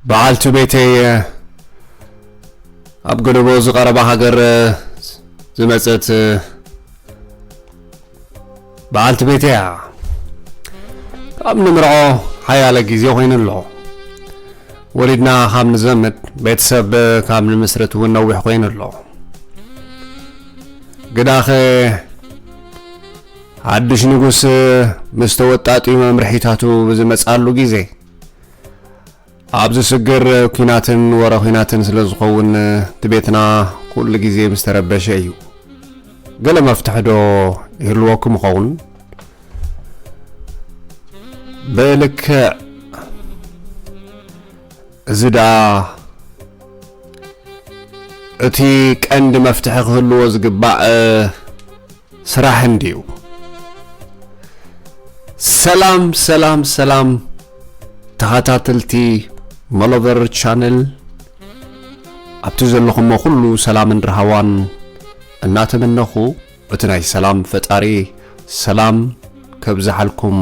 በዓልቲ ቤተይ ኣብ ገደቦ ዝቐረባ ሃገር ዝመፀት በዓልቲ ቤተይ እያ ካብ ንምርዖ ሓያለ ግዜ ኮይኑ ኣሎ ወሊድና ካብ ንዘምድ ቤተሰብ ካብ ንምስርት እውን ነዊሕ ኮይኑ ኣሎ ግዳኸ ሓድሽ ንጉስ ምስ ተወጣጢ መምርሒታቱ ብዝመፅኣሉ ግዜ ኣብ ዝስግር ኩናትን ወረ ኩናትን ስለ ዝኸውን እቲ ቤትና ኩሉ ግዜ ምስ ተረበሸ እዩ ገለ መፍትሒ ዶ ይህልወኩም ይኸውን ብልክዕ እዚ ደኣ እቲ ቀንዲ መፍትሒ ክህልዎ ዝግባእ ስራሕ እንድዩ። ሰላም ሰላም ሰላም ተኸታተልቲ መሎበር ቻነል ኣብቲ ዘለኹሞ ኩሉ ሰላምን ርሃዋን እናተመነኹ እቲ ናይ ሰላም ፈጣሪ ሰላም ከብዝሓልኩም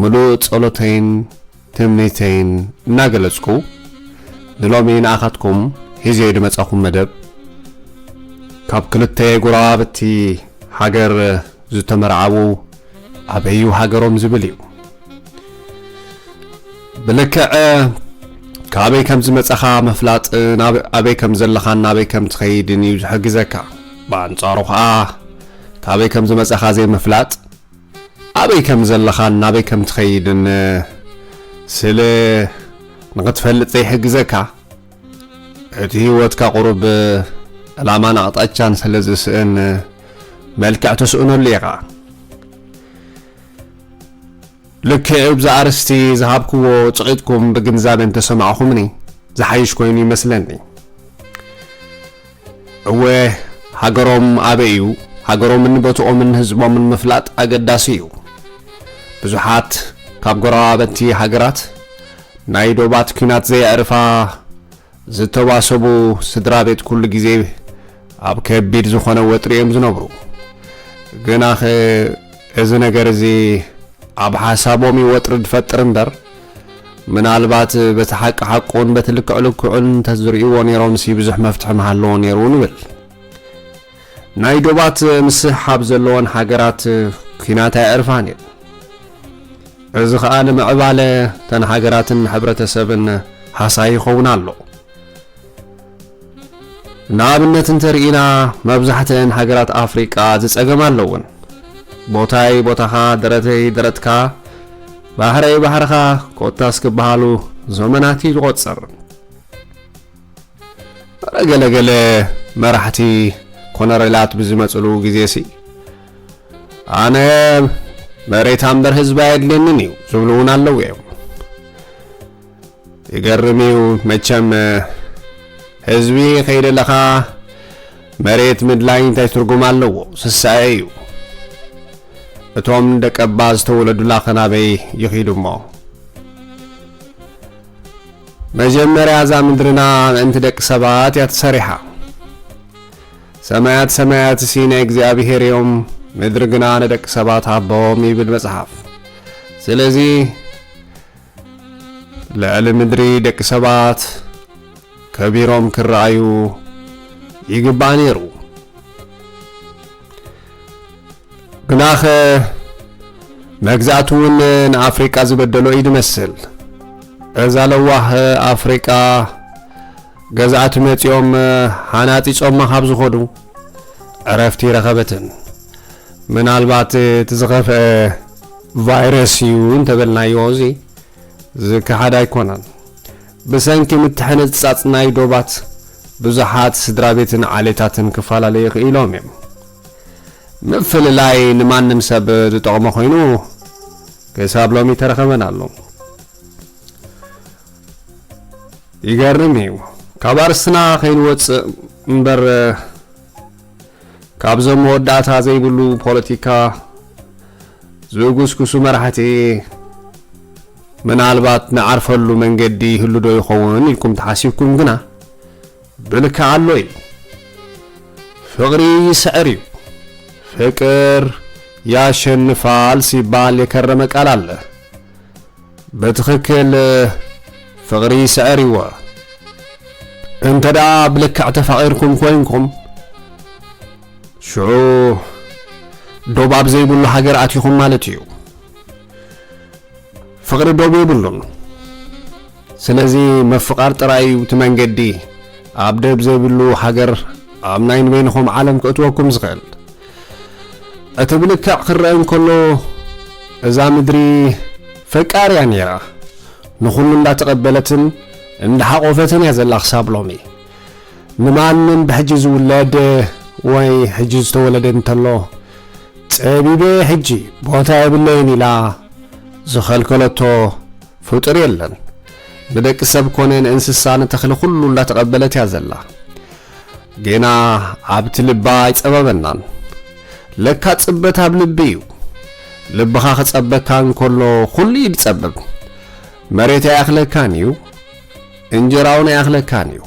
ምሉእ ጸሎተይን ትምኒተይን እናገለጽኩ ንሎሚ ንኣኻትኩም ሒዘዮ ድመጻኹም መደብ ካብ ክልተ ጎረባብቲ ሃገር ዝተመርዓዉ ኣበዩ ሃገሮም ዝብል እዩ ብልክዕ ካበይ ከም ዝመጻኻ ምፍላጥ ኣበይ ከም ዘለኻን ናበይ ከም ትኸይድን እዩ ዝሕግዘካ ብኣንጻሩ ኸኣ ካበይ ከም ዝመጻኻ ዘይምፍላጥ ኣበይ ከም ዘለኻን ናበይ ከም ትኸይድን ስለ ንኽትፈልጥ ዘይሕግዘካ፣ እቲ ህይወትካ ቁሩብ ዕላማን ኣቕጣጫን ስለ ዝስእን መልክዕ ትስእነሉ ኢኻ። ልክዕ እብዚ ኣርእስቲ ዝሃብክዎ ጭቂጥኩም ብግንዛበ እንተሰማዕኹምኒ ዝሓይሽ ኮይኑ ይመስለኒ። እወ ሃገሮም ኣበይ እዩ? ሃገሮምን ቦትኦምን ህዝቦምን ምፍላጥ ኣገዳሲ እዩ። ብዙሓት ካብ ጎረባበቲ ሃገራት ናይ ዶባት ኲናት ዘየዕርፋ ዝተዋሰቡ ስድራቤት ኩሉ ግዜ ኣብ ከቢድ ዝኾነ ወጥሪ እዮም ዝነብሩ። ግናኸ እዚ ነገር እዚ ኣብ ሓሳቦም እዩ ወጥሪ ዝፈጥር እምበር ምናልባት በቲ ሓቂ ሓቁን በቲ ልክዕ ልክዑን እንተዝርእይዎ ነይሮምሲ ብዙሕ መፍትሒ ምሃለዎ ነይሩ ንብል። ናይ ዶባት ምስሕሓብ ዘለዎን ሃገራት ኩናት ኣየዕርፋን እዩ። እዚ ኸኣ ንምዕባለ ተን ሃገራትን ሕብረተሰብን ሃሳይ ይኸውን ኣሎ። ንኣብነት እንተ ርኢና መብዛሕትኤን ሃገራት ኣፍሪቃ እዚ ጸገም ኣለወን። ቦታይ ቦታኻ፣ ደረተይ ደረትካ፣ ባሕረይ ባሕርኻ ኮታስ ክበሃሉ ዘመናት እዩ ዝቖጽር። ኣረ ገለ ገለ መራሕቲ ኮነሬላት ብዝመጽሉ ግዜሲ ኣነ መሬት ኣምበር ህዝቢ ኣየድልየንን እዩ ዝብሉ እውን ኣለዉ እዮም። ይገርም እዩ መቸም ህዝቢ ከይደለኻ መሬት ምድላይ እንታይ ትርጉም ኣለዎ ስሳኤ እዩ እቶም ደቀባ ዝተወለዱላ ኸናበይ ይኺዱ እሞ መጀመርያ እዛ ምድርና ምእንቲ ደቂ ሰባት እያ ተሰሪሓ ሰማያት ሰማያት እሲ ናይ እግዚኣብሔር እዮም ምድሪ ግና ንደቂ ሰባት ሃቦም ይብል መጽሓፍ ስለዚ ልዕሊ ምድሪ ደቂ ሰባት ከቢሮም ክረኣዩ ይግባእ ነይሩ። ግናኸ መግዛእቲ እውን ንኣፍሪቃ ዝበደሎ እዩ ዝመስል። እዛ ለዋህ ኣፍሪቃ ገዛእቲ መጺኦም ሓናጺጾማ ካብ ዝኾዱ ዕረፍቲ ረኸበትን። ምናልባት እቲ ዝኸፍኤ ቫይረስ እዩ እንተበልናዮ እዚ ዝከሓድ ኣይኮነን። ብሰንኪ ምትሕንጻጽ ናይ ዶባት ብዙሓት ስድራቤትን ዓሌታትን ክፈላለዩ ክኢሎም እዮም። ምፍልላይ ንማንም ሰብ ዝጠቕሞ ኮይኑ ክሳብ ሎሚ ተረኸበን ኣሎ። ይገርም እዩ ካብ ኣርስትና ከይንወጽእ እምበር ካብዞም መወዳእታ ዘይብሉ ፖለቲካ ዝጉስጉሱ መራሕቲ ምናልባት ንዓርፈሉ መንገዲ ይህሉ ዶ ይኸውን ኢልኩም ተሓሲብኩም ግና ብልክዕ ኣሎ እዩ። ፍቕሪ ይስዕር እዩ። ፍቅር ያሸንፋል ሲባል የከረመ ቃል ኣለ። ብትኽክል ፍቕሪ ይስዕር እዩ'ዎ እንተ ደኣ ብልክዕ ተፋቒርኩም ኮይንኩም ሽዑ ዶብ ኣብ ዘይብሉ ሃገር ኣቲኹም ማለት እዩ ፍቕሪ ዶብ የብሉን ስለዚ ምፍቓር ጥራይ እዩ እቲ መንገዲ ኣብ ደብ ዘይብሉ ሃገር ኣብ ናይ ንበይንኹም ዓለም ክእትወኩም ዝኽእል እቲ ብልክዕ ክረአ እንከሎ እዛ ምድሪ ፈቃር እያ ነይራ ንኹሉ እንዳተቐበለትን እንዳሓቖፈትን እያ ዘላ ክሳብ ሎሚ ንማንም ብሕጂ ዝውለድ ወይ ሕጂ ዝተወለደ እንተሎ ጸቢበ ሕጂ ቦታ የብለይን ኢላ ዝኸልከለቶ ፍጡር የለን ንደቂ ሰብ ኮነ ንእንስሳ ንተኽሊ ኩሉ እንዳተቐበለት እያ ዘላ ጌና ኣብቲ ልባ ኣይጸበበናን ለካ ጽበት ኣብ ልቢ እዩ ልብኻ ክጸበካ እንከሎ ኩሉ እዩ ዝጸብብ መሬት ኣይኣኽለካን እዩ እንጀራውን ኣይኣኽለካን እዩ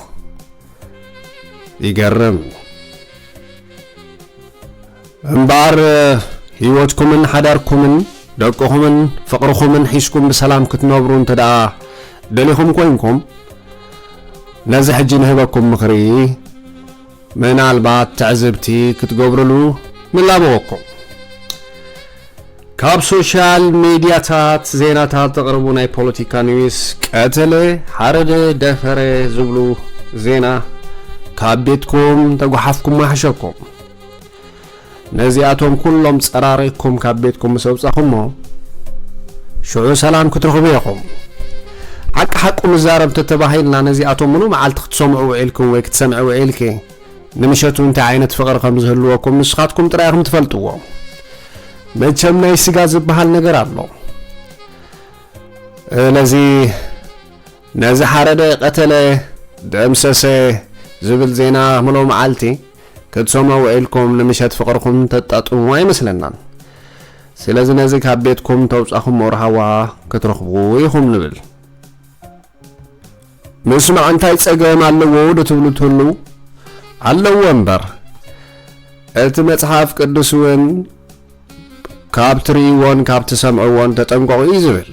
ይገርም እምበኣር ህይወትኩምን ሓዳርኩምን ደቅኹምን ፍቕርኹምን ሒዝኩም ብሰላም ክትነብሩ እንተደኣ ደሊኹም ኮይንኩም ነዚ ሕጂ ንህበኩም ምኽሪ ምናልባት ትዕዝብቲ ክትገብርሉ ንላበወኩም። ካብ ሶሻል ሚዲያታት ዜናታት ዘቕርቡ ናይ ፖለቲካ ኒውስ ቀተለ፣ ሓረደ፣ ደፈረ ዝብሉ ዜና ካብ ቤትኩም ተጓሓፍኩም ማሕሸኩም። ነዚኣቶም ኩሎም ጸራሪግኩም ካብ ቤትኩም ምስ ኣውጻኹሞ ሽዑ ሰላም ክትረኽቡ ኢኹም ሓቂ ሓቁ ንዛረብ ተተባሂልና ነዚኣቶም ምሉ መዓልቲ ክትሰምዑ ውዒልኩም ወይ ክትሰምዒ ውዒልኪ ንምሸቱ እንታይ ዓይነት ፍቕሪ ከም ዝህልወኩም ንስኻትኩም ጥራይ ኢኹም ትፈልጥዎ መቸም ናይ ስጋ ዝበሃል ነገር ኣሎ ስለዚ ነዚ ሓረደ ቀተለ ደምሰሰ ዝብል ዜና ምሎ መዓልቲ ክትሰምዑ ውዒልኩም ንምሸት ፍቕርኹም ተጣጥሙ ኣይመስለናን። ስለዚ ነዚ ካብ ቤትኩም ተውጻኹም ኦርሃዋ ክትረኽቡ ኢኹም ንብል። ምስማዕ እንታይ ጸገም ኣለዎ ዶ ትብሉ ትህልው? ኣለዎ እምበር እቲ መጽሓፍ ቅዱስ እውን ካብ ትርእይዎን ካብ ትሰምዕዎን ተጠንቀቑ እዩ ዝብል።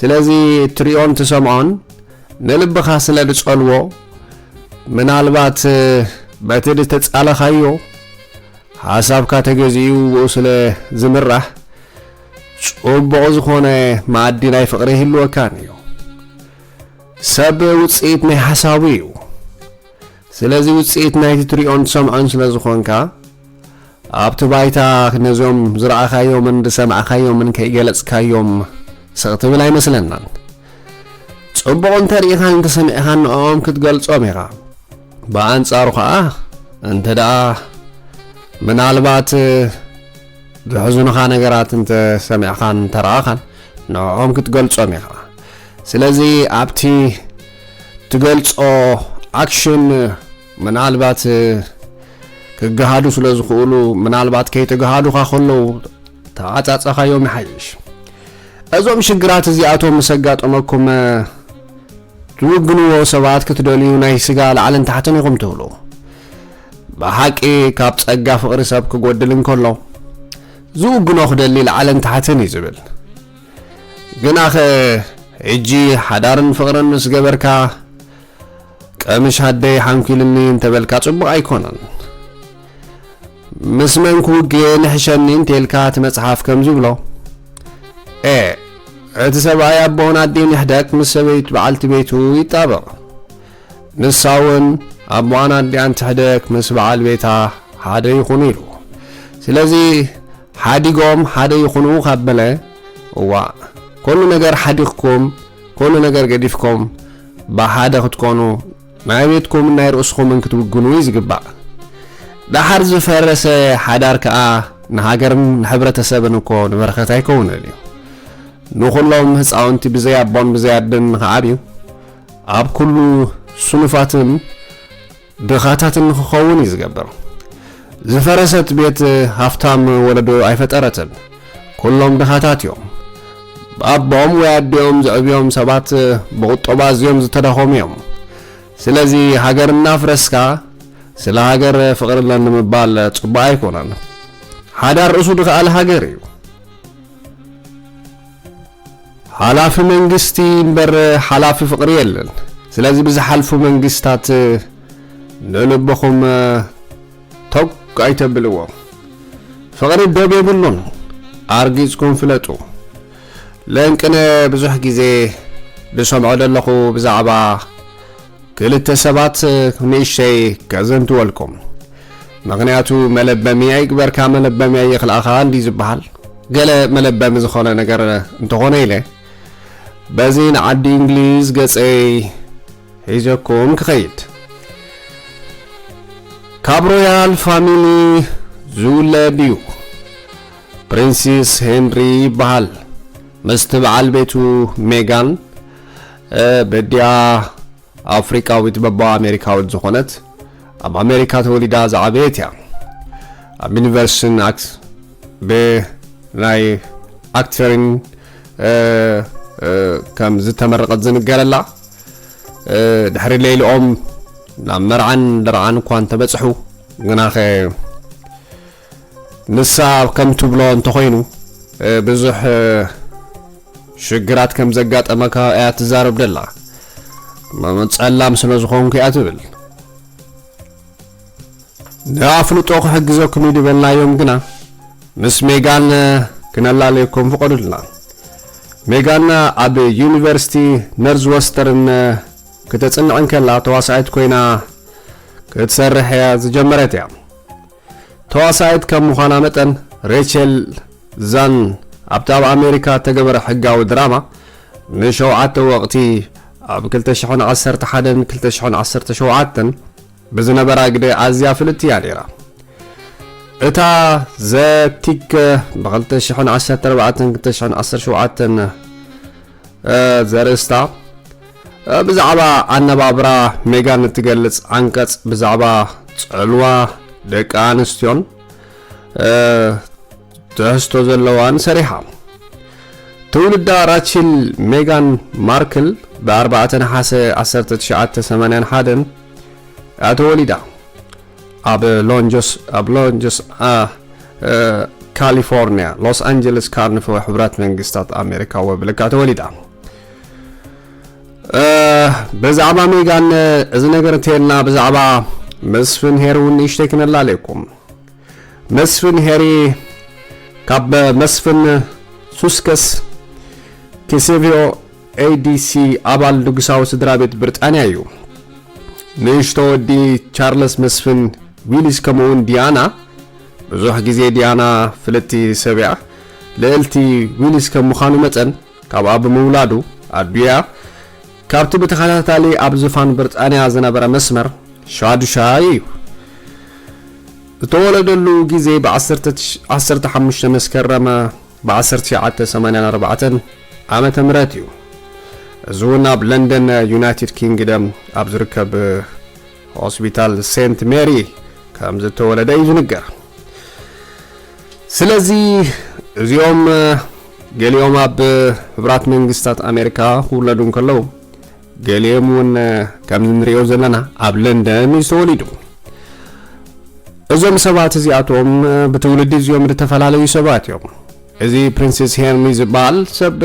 ስለዚ እትርእዮን ትሰምዖን ንልብኻ ስለ ዝጸልዎ ምናልባት በቲ ዝተጻለኻዮ ሓሳብካ ተገዚኡ ብኡ ስለ ዝምራሕ ጽቡቕ ዝኾነ መኣዲ ናይ ፍቕሪ ይህልወካን እዩ። ሰብ ውጽኢት ናይ ሓሳቡ እዩ። ስለዚ ውጽኢት ናይቲ ትሪኦን ትሰምዖን ስለ ዝኾንካ፣ ኣብቲ ባይታ ነዞም ዝረኣኻዮምን ዝሰማዕካዮምን ከይገለጽካዮም ስቕ ትብል ኣይመስለናን። ጽቡቕ እንተ ርኢኻን እንተ ሰሚዕኻን ንዕኦም ክትገልጾም ኢኻ። ብኣንጻሩ ከኣ እንተ ደኣ ምናልባት ዘሕዝኑኻ ነገራት እንተ ሰሚዕኻን እንተ ረኣኻን ንዕኦም ክትገልጾም ኢኻ። ስለዚ ኣብቲ ትገልጾ ኣክሽን ምናልባት ክገሃዱ ስለ ዝኽእሉ ምናልባት ከይተገሃዱኻ ከለዉ ተዓጻጸኻዮም ይሓይሽ እዞም ሽግራት እዚኣቶም ምስ ኣጋጠመኩም ትውግንዎ ሰባት ክትደልዩ ናይ ስጋ ላዕልን ታሕትን ኢኹም ትብሉ ብሓቂ ካብ ጸጋ ፍቕሪ ሰብ ክጎድል እንከሎ ዝውግኖ ክደሊ ላዕልን ታሕትን እዩ ዝብል ግናኸ ሕጂ ሓዳርን ፍቕርን ምስ ገበርካ ቀምሽ ኣደይ ሓንኲልኒ እንተበልካ ጽቡቕ ኣይኮነን። ምስ መን ክውግየ ንሕሸኒ እንተልካ እቲ መጽሓፍ ከም ዝብሎ ኤ እቲ ሰብኣይ ኣቦን ኣዴን ይሕደግ ምስ ሰበይት በዓልቲ ቤቱ ይጣበቕ። ንሳ እውን ኣቦኣን ኣዴኣን ትሕደግ ምስ በዓል ቤታ ሓደ ይኹኑ ኢሉ ስለዚ ሓዲጎም ሓደ ይኹኑ ካብ በለ እዋእ ኮሉ ነገር ሓዲግኩም ኮሉ ነገር ገዲፍኩም ብሓደ ክትኮኑ ናይ ቤትኩምን ናይ ርእስኹምን ክትውግኑ እዩ ዝግባእ ዳሓር ዝፈረሰ ሓዳር ከኣ ንሃገርን ንሕብረተሰብን እኮ ንበረኸት ኣይከውንን እዩ ንኹሎም ህፃውንቲ ብዘይ ኣቦን ብዘይ ኣደን ንኽዓብዩ ኣብ ኩሉ ስኑፋትን ድኻታት ንክኸውን እዩ ዝገብር። ዝፈረሰት ቤት ሃፍታም ወለዶ ኣይፈጠረትን። ኩሎም ድኻታት እዮም። ብኣቦኦም ወይ ኣዲኦም ዝዕብዮም ሰባት ብቑጠባ ኣዝዮም ዝተዳኸሙ እዮም። ስለዚ ሃገር እናፍረስካ ስለ ሃገር ፍቕሪ ኣለኒ ምባል ጽቡቕ ኣይኮነን። ሓዳር ርእሱ ድኻኣል ሃገር እዩ። ሓላፊ መንግስቲ እምበር ሓላፊ ፍቕሪ የለን። ስለዚ ብዝሓልፉ መንግስታት ንልብኹም ቶግ ኣይተብልዎ። ፍቕሪ ዶብ የብሉን፣ ኣርጊጽኩም ፍለጡ። ለንቅነ ብዙሕ ግዜ ዝሰምዖ ዘለኹ ብዛዕባ ክልተ ሰባት ንእሽተይ ከዘንትወልኩም ምክንያቱ መለበሚ ኣይግበርካ መለበሚ ኣይኽልኣኻ እንዲ ዝበሃል ገለ መለበሚ ዝኾነ ነገር እንተኾነ ኢለ በዚ ንዓዲ እንግሊዝ ገጸይ ሒዘኩም ክኸይድ ካብ ሮያል ፋሚሊ ዝውለድ እዩ ፕሪንሲስ ሄንሪ ይበሃል ምስቲ በዓል ቤቱ ሜጋን በዲኣ ኣፍሪቃዊት በባ ኣሜሪካዊት ዝኾነት ኣብ ኣሜሪካ ተወሊዳ ዝዓበየት እያ ኣብ ዩኒቨርሲቲን ኣክት ብናይ ኣክተሪን ከም ዝተመረቐት ዝንገረላ ድሕሪ ሌልኦም ናብ መርዓን ደርዓን እኳ እንተበፅሑ ግናኸ ንሳ ከም ትብሎ እንተኾይኑ ብዙሕ ሽግራት ከም ዘጋጠመካ እያ ትዛረብ ደላ። ጸላም ስለ ዝኾንኩ እያ ትብል። ንኣፍልጦ ክሕግዘኩም እዩ ዝበልናዮም ግና ምስ ሜጋን ክነላለየኩም ፍቐዱልና። ሜጋን ኣብ ዩኒቨርሲቲ ነርዝወስተርን ክተጽንዕ እንከላ ተዋሳኢት ኮይና ክትሰርሕ እያ ዝጀመረት እያ። ተዋሳኢት ከም ምዃና መጠን ሬቸል ዛን ኣብቲ ኣብ ኣሜሪካ እተገበረ ሕጋዊ ድራማ ንሸውዓተ ወቕቲ ኣብ 2011ን 2017ን ብዝነበራ ግደ ኣዝያ ፍልጥቲ እያ ነይራ። እታ ዘቲክ ብ2014-2017 ዘርእስታ ብዛዕባ ኣነባብራ ሜጋን እትገልጽ ዓንቀጽ ብዛዕባ ጽዕልዋ ደቂ ኣንስትዮን ትሕዝቶ ዘለዋን ሰሪሓ ትውልዳ ራቺል ሜጋን ማርክል ብ4 ነሓሰ 1981 እያ ተወሊዳ ኣብ ሎንጆስ ካሊፎርኒያ ሎስ ኣንጀለስ ካርንፈ ሕብራት መንግስታት ኣሜሪካ ወብልካ ተወሊዳ ብዛዕባ ሜጋን እዚ ነገር እንተልና ብዛዕባ መስፍን ሄሪ እውን ንእሽተይ ክነላለየኩም መስፍን ሄሪ ካብ መስፍን ሱስከስ ኪሴቪዮ ADC ኣባል ንጉሳዊ ስድራቤት ብሪጣንያ እዩ። ንእሽቶ ወዲ ቻርለስ መስፍን ዊሊስ ከምኡውን ዲያና፣ ብዙሕ ግዜ ዲያና ፍልጥቲ ሰብያ ልእልቲ ዊሊስ ከም ምዃኑ መጠን ካብኣ ብምውላዱ ኣዱያ ካብቲ ብተኸታታሊ ኣብ ዝፋን ብሪጣንያ ዝነበረ መስመር ሻዱሻይ እዩ። እተወለደሉ ግዜ ብ15 መስከረም ብ1984 ዓመተ ምህረት እዩ። እዚ እውን ኣብ ለንደን ዩናይትድ ኪንግደም ኣብ ዝርከብ ሆስፒታል ሴንት ሜሪ ከም ዝተወለደ እዩ ዝንገር። ስለዚ እዚኦም ገሊኦም ኣብ ህብራት መንግስታት ኣሜሪካ ክውለዱ እንከለዉ ገሊኦም እውን ከምዚ ንሪኦ ዘለና ኣብ ለንደን እዩ ዝተወሊዱ እዞም ሰባት እዚኣቶም ብትውልዲ እዚኦም ዝተፈላለዩ ሰባት እዮም እዚ ፕሪንስስ ሄርሚ ዝበሃል ሰብ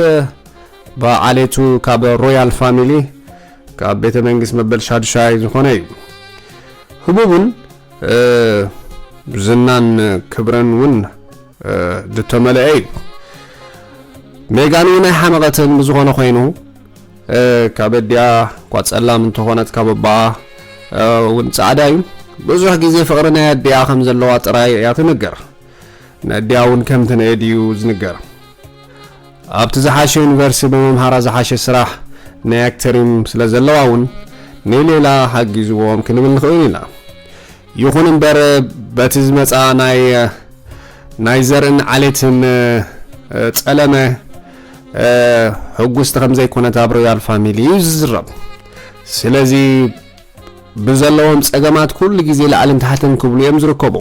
ብዓሌቱ ካብ ሮያል ፋሚሊ ካብ ቤተ መንግስት መበል ሻዱሻይ ዝኾነ እዩ ህቡብን ዝናን ክብረን እውን ዝተመልአ እዩ ሜጋን እውን ኣይሓመቐትን ብዝኾነ ኮይኑ ካብ ኣዲኣ እኳ ጸላም እንተኾነት ካብ ኣባኣ እውን ጻዕዳ እዩ ብዙሕ ግዜ ፍቕሪ ናይ ኣዲኣ ከም ዘለዋ ጥራይ እያ ትንገር ነዲኣ እውን ከም ትንእድ እዩ ዝንገር። ኣብቲ ዝሓሸ ዩኒቨርሲቲ ብምምሃራ ዝሓሸ ስራሕ ናይ ኣክተሪም ስለ ዘለዋ እውን ንሌላ ሓጊዝዎም ክንብል ንኽእል ኢና። ይኹን እምበር በቲ ዝመጽኣ ናይ ናይ ዘርእን ዓሌትን ጸለመ ሕጉስቲ ከም ዘይኮነት ኣብ ሮያል ፋሚሊ እዩ ዝዝረብ። ስለዚ ብዘለዎም ጸገማት ኩሉ ግዜ ላዕልን ታሕትን ክብሉ እዮም ዝርከቡ።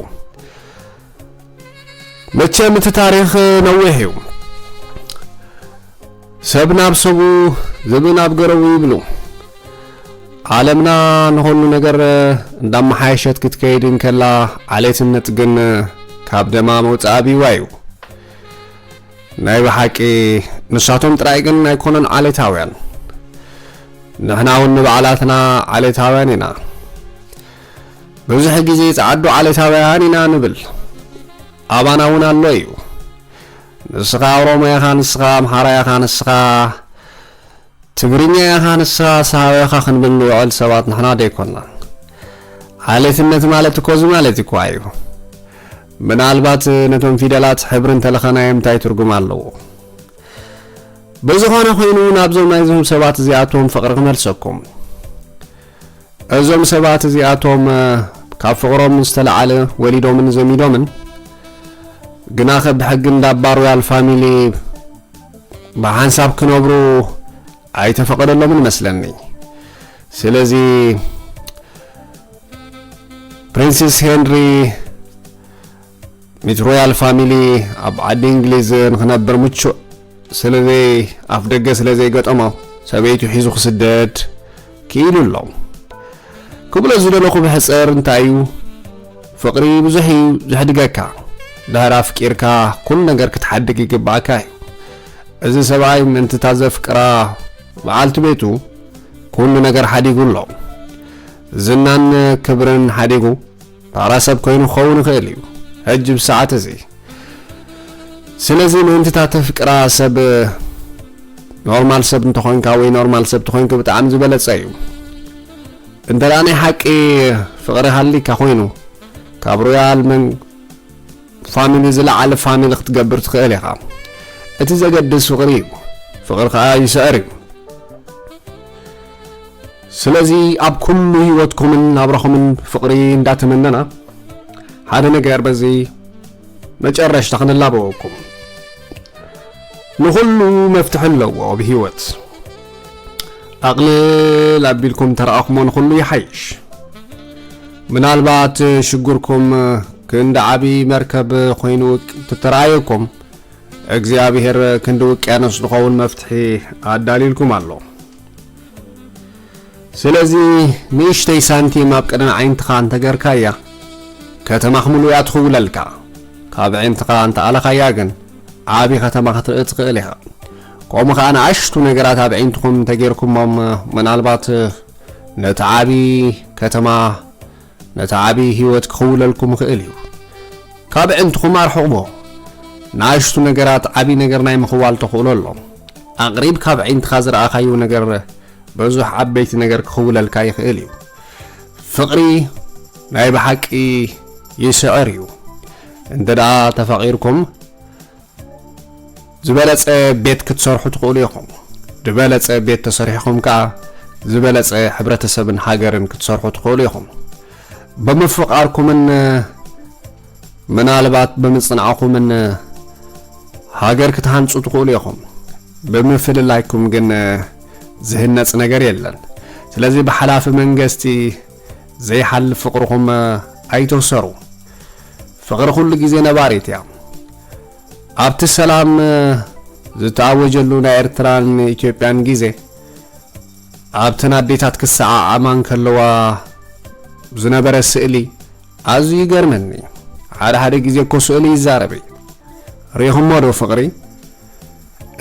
መቸም እቲ ታሪኽ ነዊሕ እዩ። ሰብ ናብ ሰቡ ዝብኢ ናብ ገረቡ ይብሉ። ዓለምና ንኹሉ ነገር እንዳመሓየሸት ክትከይድ እንከላ ዓሌትነት ግን ካብ ደማ መውጽኣ ቢዋ እዩ። ናይ ብሓቂ ንሳቶም ጥራይ ግን ኣይኮነን ዓሌታውያን ንሕና እውን ንባዕላትና ዓሌታውያን ኢና ብዙሕ ግዜ ጸዓዱ ዓሌታውያን ኢና ንብል ኣባና እውን ኣሎ እዩ ንስኻ ኦሮሞ ኢኻ ንስኻ ኣምሓራ ኢኻ ንስኻ ትግርኛ ኢኻ ንስኻ ሰሃው ኢኻ ክንብል ንውዕል ሰባት ንሕና ዶ ኣይኮናን። ዓሌትነት ማለት እኮ እዚ ማለት እኮ ኣዩ። ምናልባት ነቶም ፊደላት ሕብሪ እንተለኸናዮም እንታይ ትርጉም ኣለዎ። ብዝኾነ ኮይኑ ናብዞም ናይዞም ሰባት እዚኣቶም ፍቕሪ ክመልሰኩም። እዞም ሰባት እዚኣቶም ካብ ፍቕሮም ዝተለዓለ ወሊዶምን ዘሚዶምን ግናኸ ብሕጊ እንዳ ባሮያል ፋሚሊ ብሓንሳብ ክነብሩ ኣይተፈቐደሎምን መስለኒ ስለዚ ፕሪንስስ ሄንሪ ሚት ሮያል ፋሚሊ ኣብ ዓዲ እንግሊዝ ንክነብር ምቹእ ስለዘይ ኣፍ ደገ ስለዘይገጠሞ ሰበይቱ ሒዙ ክስደድ ክኢሉ ኣሎ። ክብሎ ዝደለኹ ብሕጽር እንታይ እዩ ፍቕሪ ብዙሕ እዩ ዘሕድገካ ድሕሪ ኣፍቂርካ ኩሉ ነገር ክትሓድግ ይግባእካ እዩ። እዚ ሰብኣይ ምእንቲ እታ ዘፍቅራ በዓልቲ ቤቱ ኩሉ ነገር ሓዲጉ ኣሎ። ዝናን ክብርን ሓዲጉ ፋራ ሰብ ኮይኑ ክኸውን ይኽእል እዩ ሕጂ ብሰዓት እዚ ስለዚ ምእንቲ እታ ተፍቅራ ሰብ ኖርማል ሰብ እንተኾንካ ወይ ኖርማል ሰብ ተኾይንኩ ብጣዕሚ ዝበለጸ እዩ እንተ ደኣ ናይ ሓቂ ፍቕሪ ሃሊካ ኮይኑ ካብ ሮያል መን ፋሚሊ ዝለዓለ ፋሚሊ ክትገብር ትኽእል ኢኻ እቲ ዘገድስ ፍቕሪ እዩ ፍቕሪ ከዓ ይስዕር እዩ ስለዚ ኣብ ኩሉ ህይወትኩምን ናብራኹምን ፍቕሪ እንዳተመነና ሓደ ነገር በዚ መጨረሽታ ክንላበወኩም ንኹሉ መፍትሒ ኣለዎ ኣብ ህይወት ኣቕልል ኣቢልኩም ተረኣኹሞ ንኹሉ ይሓይሽ ምናልባት ሽግርኩም ክንዲ ዓብዪ መርከብ ኮይኑ ትተረኣየኩም እግዚኣብሔር ክንዲ ውቅያኖስ ዝኸውን መፍትሒ ኣዳልልኩም ኣሎ ስለዚ ንእሽተይ ሳንቲም ኣብ ቅድሚ ዓይንትኻ እንተገርካያ ከተማ ክምሉ እያ ትኽውለልካ ካብ ዕንትኻ እንተኣለኻያ ግን ዓቢ ከተማ ክትርኢ ትኽእል ኢኻ ከምኡ ከዓ ንኣሽቱ ነገራት ኣብ ዕንትኹም እንተጌርኩሞም ምናልባት ነቲ ዓቢ ከተማ ነቲ ዓቢ ህይወት ክኽውለልኩም ይኽእል እዩ። ካብ ኣዕንትኹም ኣርሕቕዎ። ንኣሽቱ ነገራት ዓቢ ነገር ናይ ምኽዋል ተኽእሎ ኣሎም። ኣቕሪብ ካብ ኣዒንትኻ ዝረኣኻዮ ነገር ብዙሕ ዓበይቲ ነገር ክኽውለልካ ይኽእል እዩ። ፍቕሪ ናይ ብሓቂ ይስዕር እዩ። እንተ ደኣ ተፋቒርኩም ዝበለጸ ቤት ክትሰርሑ ትኽእሉ ኢኹም። ድበለጸ ቤት ተሰሪሕኹም ከኣ ዝበለጸ ሕብረተሰብን ሃገርን ክትሰርሑ ትኽእሉ ኢኹም። ብምፍቓርኩምን ምናልባት ብምጽናዕኹምን ሃገር ክትሃንጹ ትኽእሉ ኢኹም። ብምፍልላይኩም ግን ዝህነጽ ነገር የለን። ስለዚ ብሓላፊ መንገስቲ ዘይሓልፍ ፍቕርኹም ኣይተውሰሩ። ፍቕሪ ኩሉ ግዜ ነባሪት እያ። ኣብቲ ሰላም ዝተኣወጀሉ ናይ ኤርትራን ኢትዮጵያን ግዜ ኣብተን ኣዴታት ክሰዓዓማ እንከለዋ ዝነበረ ስእሊ ኣዝዩ ይገርመኒ እዩ። ሓደ ሓደ ግዜ እኮ ስእሊ ይዛረብ እዩ። ርኢኹሞ ዶ ፍቕሪ?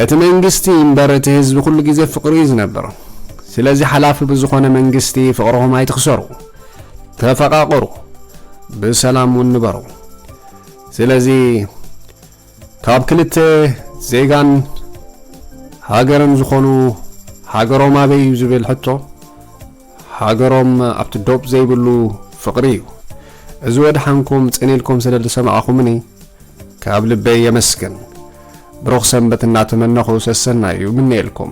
እቲ መንግስቲ እምበር እቲ ህዝቢ ኩሉ ግዜ ፍቅሪ እዩ ዝነብር ስለዚ ሓላፊ ብዝኾነ መንግስቲ ፍቅርኹም ኣይትኽሰሩ ተፈቃቅሩ ብሰላም እውን ንበሩ ስለዚ ካብ ክልተ ዜጋን ሃገርን ዝኾኑ ሃገሮም ኣበይ እዩ ዝብል ሕቶ ሃገሮም ኣብቲ ዶብ ዘይብሉ ፍቅሪ እዩ። እዚ ወድሓንኩም ጽን ኢልኩም ስለ ዝሰማዕኹምኒ ካብ ልበይ የመስግን። ብሩኽ ሰንበት እናተመነኹ ሰሰናዩ ይምነየልኩም።